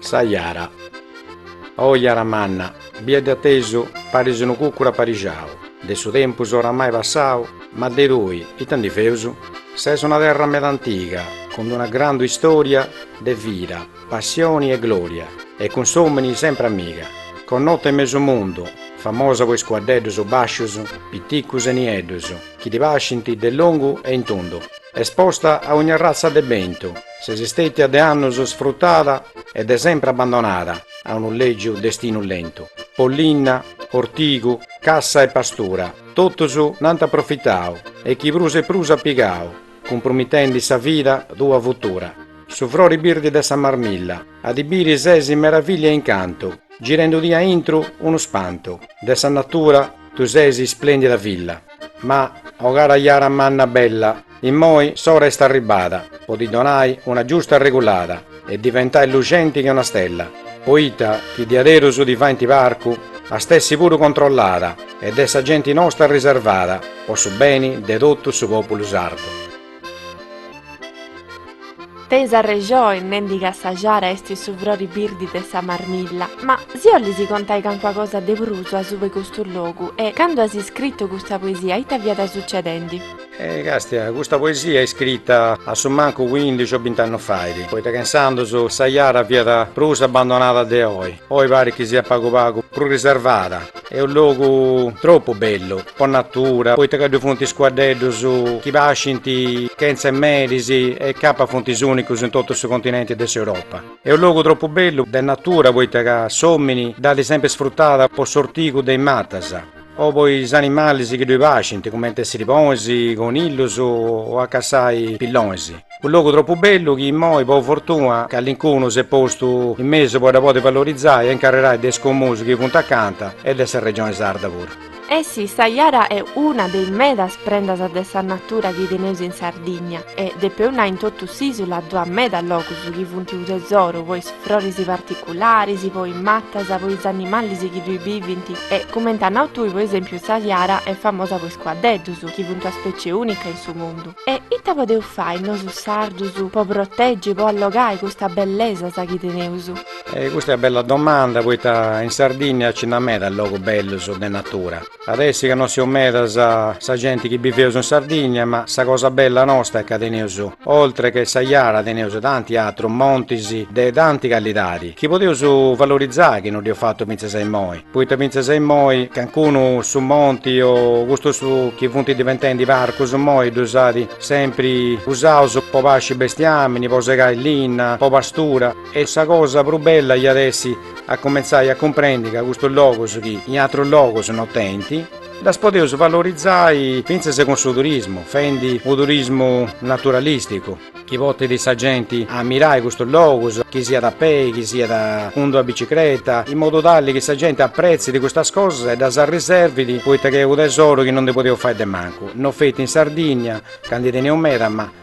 Sa jara. Oh jara manna, bia de a tesu, paris unu cucuru aparixau, de su tempus oramai passau, ma de tui, ita ndi feus? Ses una terra meda antiga, cun d'una grandu istoria de vida, passioni e gloria, e cun s'omini sempri amiga, connota in mesu mundu, famosa po is cuaddeddus bascius, piticus e nieddus, chi ti pascint de longu e in tundu, esposta a ogni arratza de bentu, Ses istètia de annus sfrutada e de sempre abbandonada a unu lègiu destinu lentu. Po linna, ortigu, cassa e pastura, totus nd'ant aprofitau e chi prus e prus at pigau, cumpromitendi sa vida tua futura. Su frori birdi de sa marmilla, a ddi biri ses meravillia e incantu, girendudì a intru unu spantu. De sa natura tu ses isplèndida filla, ma, o cara jara manna bella, Immoi s'ora est arribada po di donai una giusta arregulada e diventai luxenti che una stella, poita chi diaderus di faint parcu at essi puru controllada e de sa genti nosta riservada po su beni de totu su populu sardu. Tenis arrexoni nendi ca sa jara est su frori birdi de sa marmilla. Ma si 'ollis contai cancua cosa de prusu asubu 'e custu logu e candu as iscritu custa poesia ita fiat sucedendi? E castia, custa poesia est iscrita a su mancu cuindixi o binti annos fait, poita ca insandos sa jara fiat prus abbandonada de oi, oi parit chi siat pagu pagu prus riservada, est unu logu tropu bellu po natura, poita ca ddoi funt is cuaddeddus chi pascint chentza 'e meris e capat funt is unicus in totu su continenti de s'Europa. Est unu logu tropu bellu de natura poita ca s'omini dd'at sempri sfrutada po s'ortigu de is matas, o po is animalis chi ddoi pascint, cumenti 'e sirbonis, conillus o a cassai pillonis. Unu logu tropu bellu chi immoi, po fortuna, callincunu s'est postu in mesu po dda podi valorizai e incarrerai de is comunis chi funt acanta e de sa Regioni Sarda puru. E sì, sa jara est una de is medas prendas de sa natura chi teneus in Sardigna e, depeu nai in totu s'Isula ddu at meda logus chi funt u' tesoru po is Froris particularis, po is matas, po is animalis chi ddui bivint e, cumenti as nau tui, po esempiu, sa jara est famosa po is cuaddeddus, chi funt una specie unica in su mundu. E ita podeus fai nosu sardus po proteggi e po allogai custa bellesas chi teneus? Custa est una bella domanda, poita in Sardinnia nci nd'at meda logus bellus de natura. At essi ca no seus medas sa genti chi biveus in Sardigna ma sa cosa bella nosta est ca teneus oltre che sa jara teneus tanti atrus montis de tanti calidadi chi podeus valorizai chi no dd'eus fatu fintzas a immoi poita fintzas a immoi cancunu su monti o custus chi funt diventendi parcus immoi ddus at sempri usaus po pasci bestiamini po segai linna po pastura E sa cosa prus bella iat essi a cumentzai a cumprendi ca custus logus chi in atrus logus no tenint, ddus podeus valorizai fintzas cun su turismu, fendi unu turismu naturalisticu, chi potit sa genti a mirai custus logus, chi siat a pei, chi siat cun d'una bicicreta, in modu tali chi sa genti apretzit custas cosas e ddas arriservit poita chi est unu tesoru chi no ndi podeus fai de mancu, no feti in Sardinnia, ca ndi teneus meda, ma.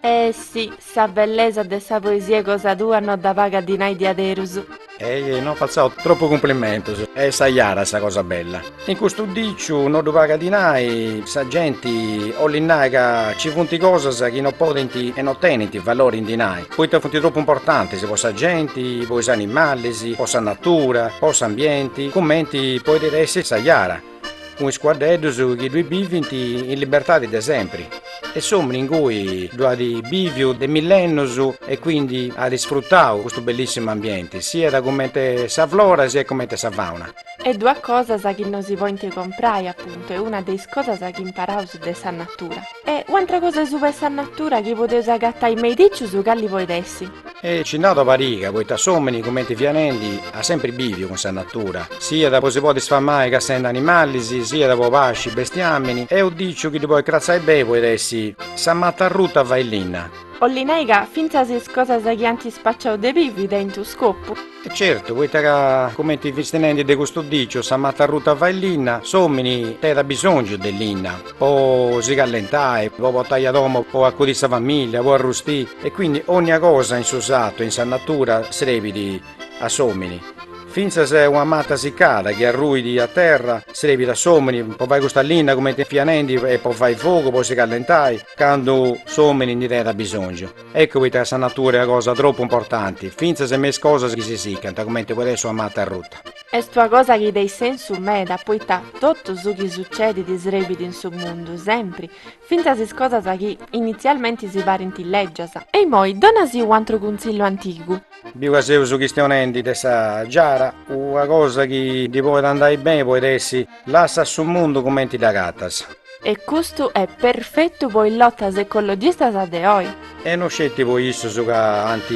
E si, sa bellesa de sa poesia cosa tua no dda pagat dinai diaderus. Ehi, no fatzaus tropu cumplimentus, est sa jara sa cosa bella. In custu diciu no ddu pagat dinai, sa genti olit nai ca ci funt cosas chi no podint e no tenint valori in dinai, poita funt tropu importantis po sa genti, po is animalis, po sa natura, po s'ambienti, cumenti poidit essi sa jara. cun is cuaddeddus chi ddui bivint in libertadi de sempri e s'omini ingui ddu at biviu de millennus e quindi at isfrutau custu bellissimu ambienti siat cumenti sa flora siat cumenti sa fauna. E ddui at cosas chi no si podint comprai apuntu est una de is cosas chi imparaus de sa natura. E u'antra cosa asuba 'e sa natura chi podeus agatai me is dicius cali poit essi. E ci nd'at una pariga, poita s'omini cumenti fia nendi at sempri biviu cun sa natura, siat po si podi sfamai cassendi animalis, siat po pasci bestiamini, e unu diciu chi ddi poit cratzai beni poit essi sa mata arruta fait linna. Olli nai ca fintzas is cosas chi ant spaciau de bivi tenint unu scopu. E certu, poita ca, cumenti fisti nendi de custu diciu, sa mata arruta fait linna, s'omini tenit abisongiu de linna po si callentai, po portai a domo, po acudi sa familia, po arrusti, e quindi onnia cosa in su sartu e in sa natura srebidi a s'omini, finzas una mata siccada chi arruidi a terra srebidi a s'omini po fai custa linna cumenti fia nendi e po fai fogu po si callentai candu s'omini ndi tenit abisongiu. Ecco poita sa natura est una cosa tropu importanti, fintzas in me is cosas chi si sicant, cumenti podit essi una mata arruta. Est una cosa chi tenit sensu meda, poita totu su chi sucedit srebit in su mundu, sempri, fintzas is cosas chi, initzialmenti, si parint lègias. E imoi, dona·sì u'antru cuntzillu antigu. Biu ca seus chistionendi de sa giara, una cosa chi ndi poit andai beni poit essi. Lassa su mundu cumenti dd'agatas. E custu est perfetu po is lotas ecologistas de oi. E no sceti po issus ca ant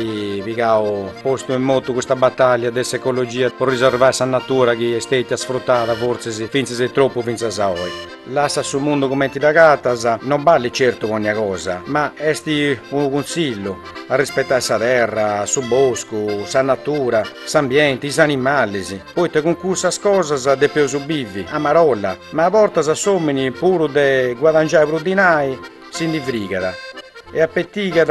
pigau postu in motu custa batàllia de s'ecologia po riservai sa natura chi est stètia sfrutada fortzis fintzas e tropu fintzas a oi. Lassa su mundu cumenti dd'agatas no ballit certu po onnia cosa, ma est unu cuntzillu a rispetai sa terra, su boscu, sa natura, s'ambienti, is animalis. Poita cun cussas cosas depeus bivi, a marolla, ma a bortas s'omini puru de guadangiai prus dinai si ndi frigat e apetigat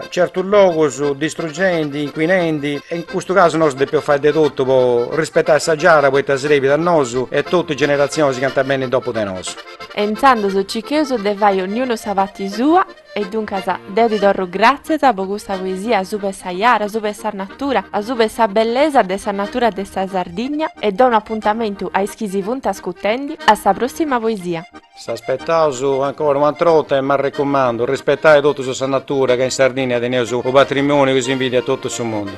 certus logus distrugendi, inquinendi e in custu casu nosu depeus fai de totu po rispetai sa giara poita srebit a nosu e totu is generatzionis chi ant a benni dopu de nosu. E intzandus cicheus de fai onniunu sa parti sua E duncas deu ti torru gràtzias po custa poesia suba sa jara, suba sa natura, suba sa bellesa de sa natura de sa Sardigna e donu apuntamentu a is chi si funt ascutendi a sa pròssima poesia. S'aspetaus ancora un'atr' 'orta e m'arrecumandu, rispetai totus sa natura ca in Sardinnia teneus u' patrimoniu chi s'invidiat totu su mundu.